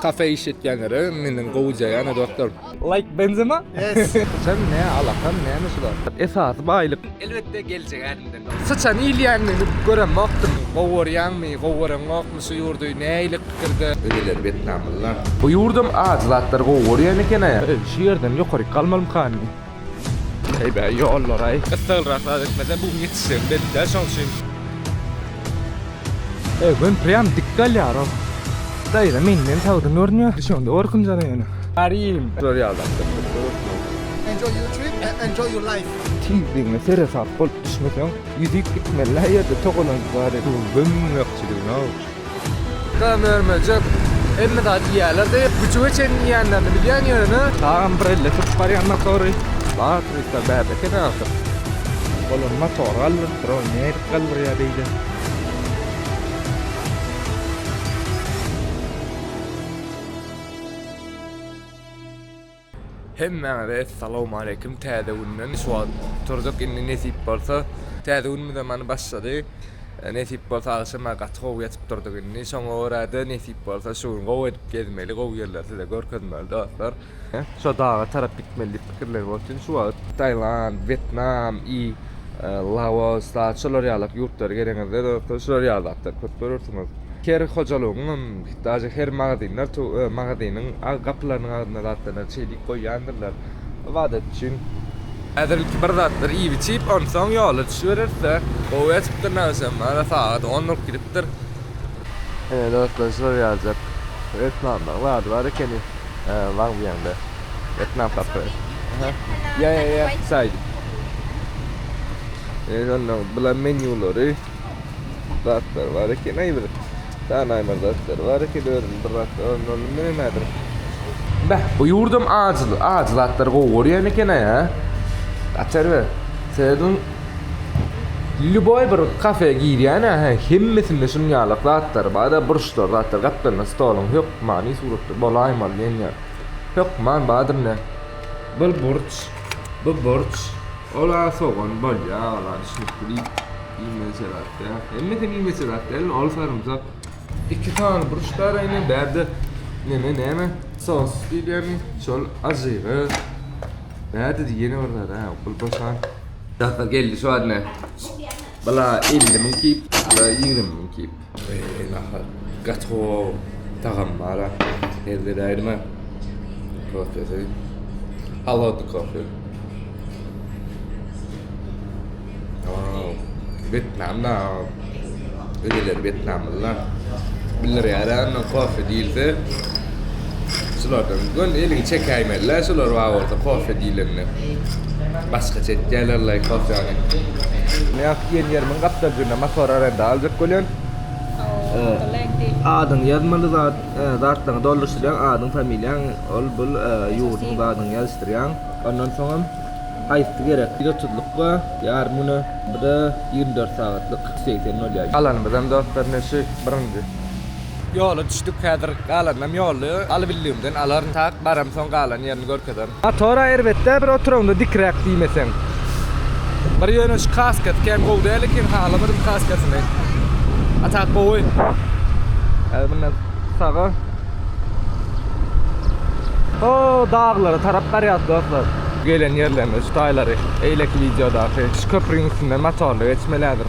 Kafe iş etýänlere menden gowuja ýa ne dostlar. Like Benzema. Syçan ne alakan name şular. Esasy baýlyk. Elbetde geljek ädimden. Syçan iýilýänini göremokdym. Gowy görýäňmi gowy göreňokmy şu ýurdy nähili pikirde. Öliler bet namllar. Bu ýurdam ajy zatlary gowy görýän ekena. Şu ýerden ýokaryk galmalymkan. Heý bäý ýollaraý. Gyssaglyrak zat etmese bu gün ýetişjegim belli däl şoň üçin. Eýwen prýam dik galýarow. Daýza menden sagdyn görünýär şonda gorkunjana ýöne. Arim. Şular ýadapdyr. Enjoy your trip and enjoy your life. Tizligine seresap bolup düşmeseň ýüzüp gitmeli-ä ýerde togalanyp bar edip. Tüwwem müň ýagşydygyna-ow. Dam örmejek hemme zady iýýärler de güjüge çenli iýenlerini bilýän ýöne. Dagam bir elle sürüp barýan motory batrykda bäbe ekeni ahyr. Olar motory galdyryp dur ow nädip galdyrýar beýle. Hemmäňize Essalawmaleýkim Täze günden şu wagt turdyk indi nesip bolsa Täze günimiz hem many başlady Nesip bolsa agşam a gaty gowy ýatyp durdyk indi şoňa görä-de nesip bolsa şu gün gowy edip gezmeli gowy ýerleri size görkezmeli dostlar. Şo daga tarap gitmeli diýip pikirlenip otyryn şu wagt. Tailand, Wetnam i Laos dagy şolar ýalak ýurtlara geleňizde dostlar şular ýaly zatlar köp görersiňiz. Her hojalygyň hem Daže her magazinler to ö magazinyň a gapylarynyň agzynda zatlaryndan çeý diýip goýýandyrlar. Ybadat üçin. Häzir ilki bir zatlar iýip-içip, onsoň ýola düşübereris-dä. Gowy ýatypdyr näwsem, ana sagat on bolup gidipdir. Ine dostlar şular ýaljak reklamlaň zady bar ekeni waň diýende reklam kafe. Aha. Ýa ýa ýa saýt. Ine şonda bular menýulary zatlar bar ekeni aýyr. Danaýmaz zatlar bar eken özüm bir wagt öwrenendim men nämedir. Beh bu ýurdum ajy ajy zatlary gowy görýän ekenaý hä. Açar be. Seniň lýuboý bir kafe girýänä hä hemmesinde şunuň ýalak zatlar bada burçlar zatlar gaplanan stoluň hökmany suratda bolaýmaly diýen ýa hökman badyr ne. Bir burç, bu burç, ol-a sogan bolýa ol-a düşnükli. Iýmeli şerat däl. Hemmesi hem iýmeli şerat däl, ol sarymsak. Iki sany burç bar indi, bärde neme näme? Sos diýilýärmi? Şol ajygy. Bärde ýene bir zat, ha, pul boşan. Daşda geldi şu adne. Bula 50 min kip, bula 20 min kip. Eý nahar gaty gowy tagam bara her zede aýryma kofesi halodny kofe Wetnamda öýler wetnamlylar bildirýär kofe diýilse Şulardan göl eliňi çekäýmeli-le şular bar bolsa kofe diýlende. Başgaça etýärler laý kofäni. Men ýaňky diýen ýerimiň gapdalynda motor arenda aljak bolýan. Adyňy ýazmaly zat, zatlaryňy dolduryşdyrýaň, adyň, familiýaň, ol bul ýurduň zadyny ýazyşdyrýaň. Ondan soňam haýsy gerek? Ýüz otuzlyk bar, ýarym güne, bu-da ýigrimi dört sagatlyk, ýüz segsen bolýar. Alanymyzam dostlar ine şu birinji. Ýola düşdük häzir galanynam ýolda aly bildigimden alaryn tak baram soň galan ýerini görkezerin. Motora erbetdä bir oturanda dikräk diýmeseň. Bir ýöne şu kaskasy kän gowy däl eken halamadym kaskasyny a tak gowy. Häzir mundan saga o daglara tarap barýas dostlar. Gelen ýerlerimiz şu taýlary eýleki wideodaky şu köprüň üstünden motorly geçmeli häzir.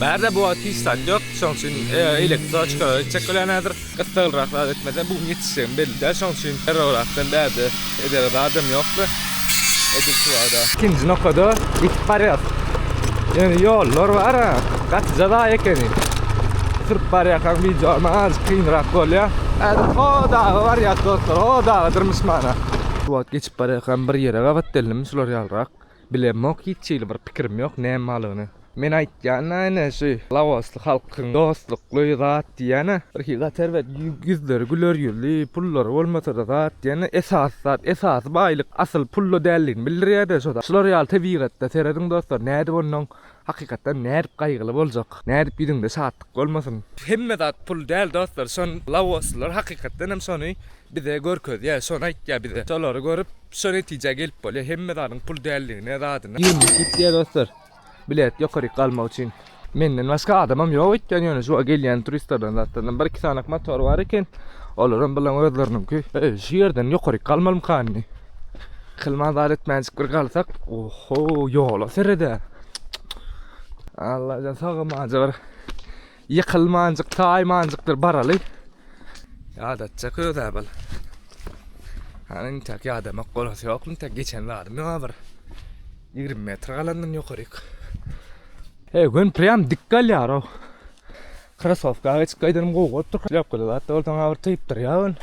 Bärde bu wagt hiç zat ýok, şonuň üçin elektroçkalar etjek bolýan häzir. Gyssaglyrak zat etmesem, bu gün ýetişjegim belli däl, şonuň üçin derrewrakdan bärde edere zadam ýokdy. Edil şu wagda. Ikinji nokada ýetip barýas. Ýöne ýollar bar, gaty jaza ekeni. Sürüp barýarkaň wideoma azajyk kynrak bolýar. Häzir ho daga barýas dostlar, ho daga dyrmyşmana. Şu wagt geçip barýarkam bir ýere gabat geldim, şular ýalyrak. Bilemok hiç hili bir pikirim ýok näme balygyny. Men aýtýan näne şu laosly halkyň dostlukly zat diýýäne. Bir hili zat erbet ýüzleri güler ýüzli pullary bolmasada zat diýýäne esasy zat esasy baýlyk asyl pulda däldigini bildirýäde şo zat. Şular ýaly tebigatda serediň dostlar nädip onnoň Hakykatdan nädip gaýgyly boljak. Nädip ýüzüňde şatlyk bolmasyn. Hemme zat pul däl dostlar şon lawoslylar hakykatdan hem şony bize görkezýä şony aýtýa bize şolary görüp şo netijä gelip bolýa hemme zadyň pul däldigine zadyna. Ýigrimi iki gitýä dostlar bilet ýokaryk galmak üçin. Menden başga adamam ýok öýtýän ýöne şu gelýän turistlerden zatlardan bir iki sanak motor bar eken olaram bilen özleriniňki şu ýerden ýokaryk galmalymka indi. Kylma zat etmänjik bir galsak, oho, ýola seredä. Allajan sagamanjy bir ýykylmanjyk, taýmanjykdyr baraly. Ýadatjak özä bal. Hany intäk ýadamak bolasy ýok, intäk geçen zadym ýok bir. 20 metr galandan ýokaryk. He, gün prýam dik galýar-ow. Krasowka geçip gaýdanym gowy bolupdyr. Ýapgyda zat bolsaň, bir typdyr ýa gün.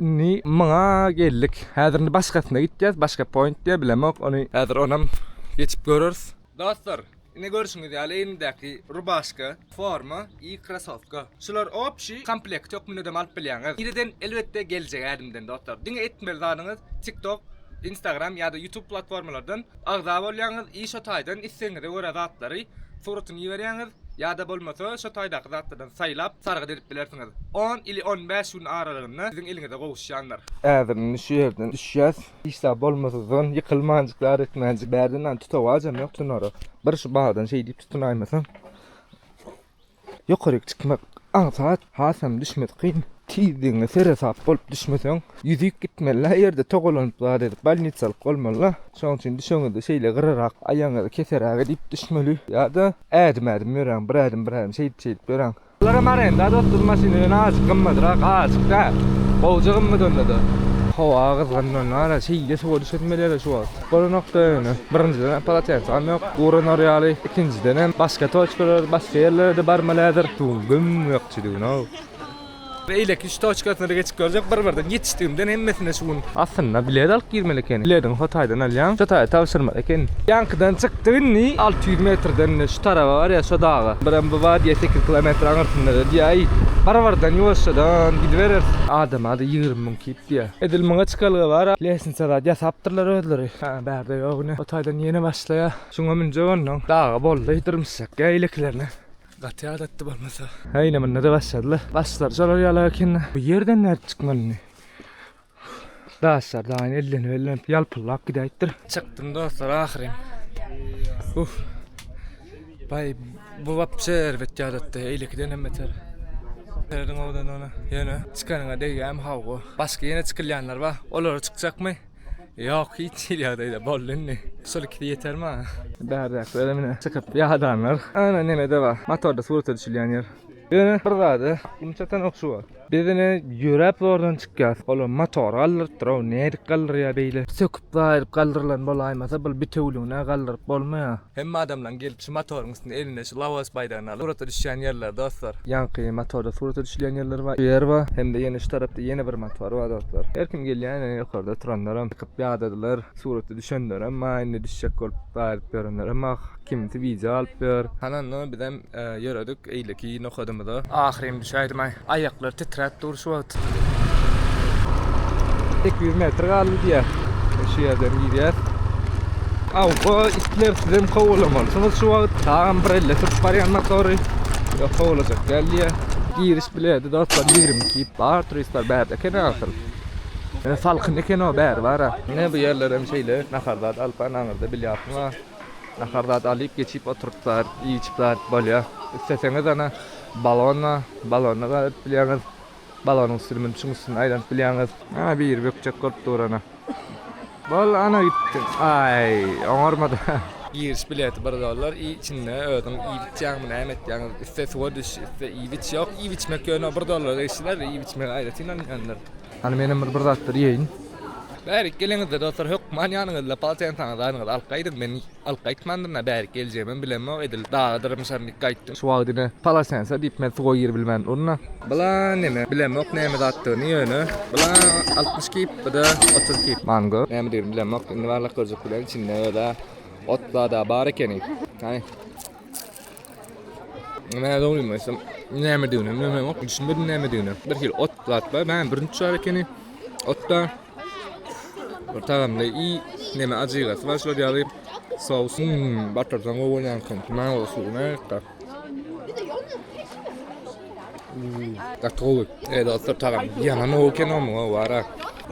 Indi muňa geldik. Häzir indi başgasyna gitýäs. Başga point diýýär, bilemok ony. Häzir onam geçip göreris. Dostlar, ine görşüňiz ýaly egnimdäki rubaşka, forma i krasowka. Şular opşi komplekt hökmündem alyp bilýäňiz. Bireden elbetde geljek ädimden dostlar. Diňe etmeli zadyňyz TikTok, Instagram ýa-da YouTube platformalardan Agza bolýaňyz i şo taýdan islegiňize görä zatlary suratyny iberýäňiz ýa-da bolmasa şo taýdaky zatlardan saýlap sargyt edip bilersiňiz. On ili on bäş gün aralygynda siziň eliňize gowuşýandyr. Häzir indi şu ýerden düşýäs. Işdä bolmasyzdan ýykylmanjyk zar etmänjik bärde nan tutawajam ýok tunara. Bir şu bagdan şeý diýip tutunaýmasam. Ýokaryk çykmak aňsat, hasam düşmesi kyn. Tizligiňe seresap bolup düşmeseň, ýüzüp gitmeli-ä ýerde togalanyp zat edip bolnitsalyk bolmaly-a. Şonuň üçin düşeňizde şeýle gyrarak, aýagyňyzy keseräk edip düşmeli ýa-da ädim-ädim ýöräň, bir ädim, bir ädim şeýdip-şeýdip ýöräň. Bularam arenda dost, bu maşyn ýöne azajyk gymmadrak, azajyk däl, gowja gymmat onda-da. Howa gyzgynlanana şeýle suwa düşesim gelýär-le şu wagt. Goly nokta öýüne. Birinjiden polotensam ýok. Guranar ýaly. Ikinjidenem başga toçkalar, başga ýerlere-de barmalädir. Şu gün güm ökjüdigin-ow. Beýleki üç toçkasyna-da geçip görjek. Bir-birden ýetişdigimden hemmesine şu gün. Aslynda bilet alyp girmeli ekeni. Bilediňi hotaýdan alýaň. Şu taýy tabşyrmaly eken. Ýaňkydan çykdyk indi. Alty ýüz metrden-de şu taraba bar ýa, şo daga. Birem bu bar diýýä, sekiz kilometr aňyrsynda-da diýýä. Aý, bir-birden ýuwaşjadan gidibereris. Adama-da ýigrimi müň ki. Diýýä. Edil muňa çykalga bar. Lesnitsa zat ýasapdyrlar özleri. Hä, bärde ýok ine. O taýdan ýene başlaýar. Şuňa münjek onnoň. Daga boldy, dyrmyşjak. Ýa ilekilerine. Gaty ýadatdy bolmasa. Hä, ine munda-da başladylar. Başlary şolar ýaly ekeni. Bu ýerden nädip çykmaly indi? Daşlar daýyny ellenip-ellenip ýalpyldap gidäýipdir. Çykdym dostlar ahyryn. Uff. Baý bu wapşe erbet ýadatdy eýlekidenem beter. Ýerden owdan ony ýöne çykanyňa degýämi hawwa. Başga ýene çykylýanlar bar olara çykjakmy? Ýok hiç hili ýagdaýda boldy indi. Şol ikisi ýeter maňa. Bärdäkilerem ine çykyp ýadanlar. Ana nemede bar motorda surata düşülýän ýer. Ýöne bir zady güm çatanok şu wagt. Biz ine ýöräp zordan çykýas. Olam motory galdyrypdyr-ow, nädip galdyrýa beýle. Söküp zaýryp galdyrylan bolaýmasa bul bitewüligine galdyryp bolmaýa. Hemme adamlaň gelip şu motoryň üstünde elinde şu Laos baýdagyny alyp surata düşýän ýerleri dostlar. Ýaňky motorda surata düşülýän ýerleri bar, şu ýer bar. Hemde ýene şu tarapda ýene bir motor bar dostlar. Her kim gelýä ine ýokarda turanlaram çykyp ýadadylar, surata düşenlerem bar, indi düşjek bolup zaýryp ýörenlerem bar. Kimsi wideo alyp ýör. Hany indi bizem ýöredik eýleki nokadymyza. Ahyryn düşäýdim-aý. Aýaklar titräp dur şu wagt. Iki ýüz metr galdy diýýär. Şu ýerden girýär. Awwa, itler sizem kowalamalysyňyz şu wagt. Tagam bir elle tutup barýan motory. Ýok, kowalajak däl diýýär. Giriş bileti dostlar ýigrimi iki ip bar. Turistler bärde eken-ä asyl. Salkyn eken-ow bäri bar-a. Ine bu ýerlerem şeýle nahar zat alyp bar, naňyrda bilýatsyň-a. Nahar zat alyp geçip oturyp bar iýip bar bolýa. Isleseňiz ana balona balona galyp bilýäňiz. Balonyň üstüni münüp şuň üstünde aýlanyp bilýäňiz. Ana biri bökjek bolup dur ana. Bol ana gitdi. Aý oňarmady. Giriş bileti bir dollar i içinde özüň iýip içýäňmi näme etýäň iste suwa düş iste iýip iç ýok iýip içmek ýöne bir dollara eşider iýip içmegi aýratyn alýandyr. Hany menem bir bir zatlar iýeýin. Bärik geleňizde dostlar hökman ýanyňyzda poltensaňyz zaryňyzy alyp gaýdyň men alyp gaýtmandyrna bärik geljegimem bilemok edil daga dyrymşaryn dik gaýtdym. Şu wagt ine polosensa diýip men suwa giribilmän durna. Blan neme bilemok neme zatdygyny ýöne blan altmyş kip bda otuz kip. Mango nämedigini bilemok indi barlak görjek bilen içinde özä ot zada bar ekeni hany. Näme dogrymy aýtsam, nämediginem bilemok, düşünmedim nämedigine. Bir hili ot zat bar, näme bürünç bar ekeni. Otda bir tagamly i näme ajygasy bar şular ýaly. Sous hmm, batyrsaň gowy bolýan ekeni. Näme bolsa nätdi. Hmm, gaty gowy. Ey dostlar, tagam ýaman gowy ekeni omuň, o bara.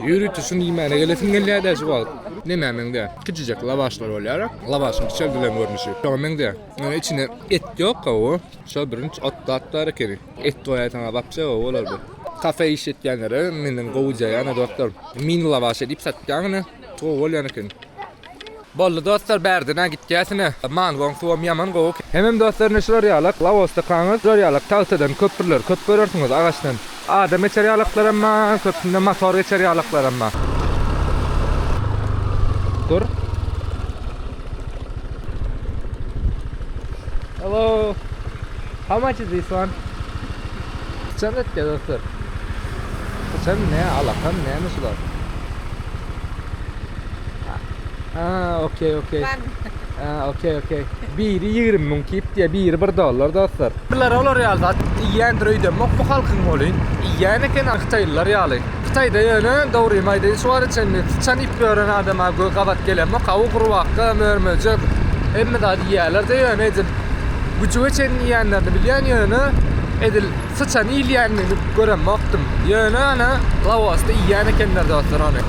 Ýöri tüşün iýmäne gelesim gelýär däşi wagt. Nämä meňde? Kiçijek lawaşlar bolýar. Lawaşyň kiçeldilen görnüşi. Şoňa meňde. Ýöne içinde et ýok gowy. Şo birinç otdad bar ekeni. Et goýaý saňa wapşe gowy bolar bu. Kafe iş etýänlere menden gowy jaýana dostlar. Mini lawaşe diýip satýan ine. Gowy bolýan eken. Boldy dostlar bärden-ä gitýäs ine. Mangoň suwam ýaman gowy. Hemem dostlar ine şular ýalak lawostakanlar şular ýalak tagtadan köprüler köp görersiňiz agaçdan. Adam geçer ýalaklar hem bar, köpüsinde motor geçer ýalaklar hem bar. Dur. Hello. How much is this one? Sen et ya dostlar. Sen ne alakan ne mi sular? Ah, okay, okay. Aa okey okey. Biri 20 müň kip diye biri 1 dollar dostlar. Bular olar ýaly zat iýýändir öýdemok bu halkyň welin. Iýýän eken hytaýlylar ýaly. Hytaýda ýöne dogrymy aýdaýyn şu wagta çenli syçan iýip ýören adama gö gabat gelemok. Hawa gurbaka, mör-möjek hemme zady iýýäler-de ýöne edil güjüge çenli iýýänlerini bilýän ýöne edil Syçan iýilýänini göremokdym. Ýöne ony Laosda iýýän ekenler dostlar ony.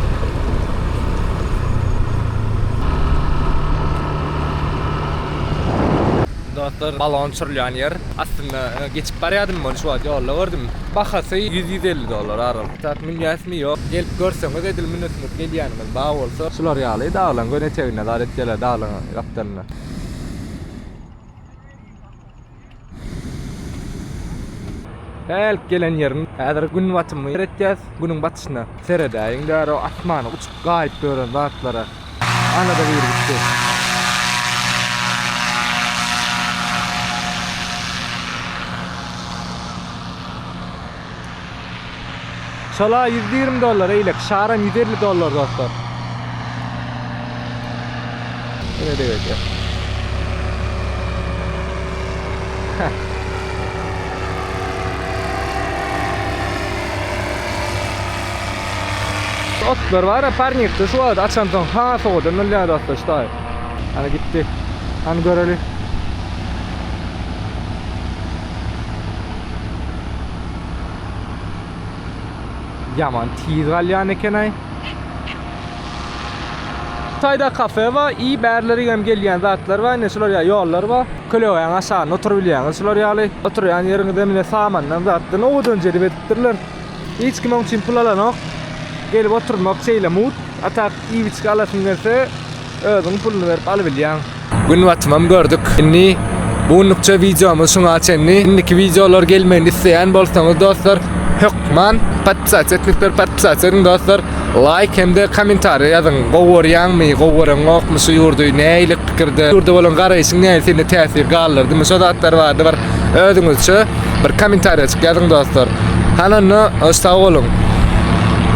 Dostlar, balon uçurylýan ýer. Aslynda geçip barýardym muny şu wagt ýolda gördüm. Bahasy ýüz, ýüz elli dollar aral. Zat münýäsmi ýok. Gelip görseňiz edil münesiňiz gelýäniňiz bar bolsa. Şular ýaly daglaryň göni eteginde zat etýärler daglaryň gapdalynda. Hälk gelen ýerim häzir gün batymy seretýäs. Günüň batyşyna seredäýiň däroo asmana uçup gaýyp ýören zatlara. Anada biri gitdi. Şala ýüz ýigrimi dollar eýlek şaram ýüz elli dollar dostlar. Ine degedýär. Otlar var ya parnikde şu wagt açan soň ha sowadan ölýär dostlar şu taýy. Ana gitdi. Hany göreli. Yaman tiz galyan eken ay. Tayda kafe var, iyi bärleri hem gelýän zatlar var, ine şular ya yollar var. Kölegeň aşagynda oturyp bilýäňiz şular ýaly. Oturýan ýeriňiz hem ine samandan zatdan owadan jerip edipdirler. Hiç kim oň üçin pul alanok. Gelip oturmak şeýle mugt. Atak iýip içgi alasyň gelse, Özüň puluny berip alybilýäň. Gün batymam gördük. Indi bu günlükçe wideomyz şuňa çenli. Indiki wideolar gelmegini isleýän bolsaňyz dostlar, hökman podpisasiýa etmek berip podpisasiýa ediň dostlar. Laýk hem-de kommentariýa ýazyň. Gowy görýäňmi, gowy göreňokmy şu ýurdy, nähili pikirde, ýurda bolan garaýşyň nähili sende täsir galdyrdymy şo zatlar barada bir özüňizçe bir kommentariýajyk ýazyň dostlar. Hany onda sag boluň.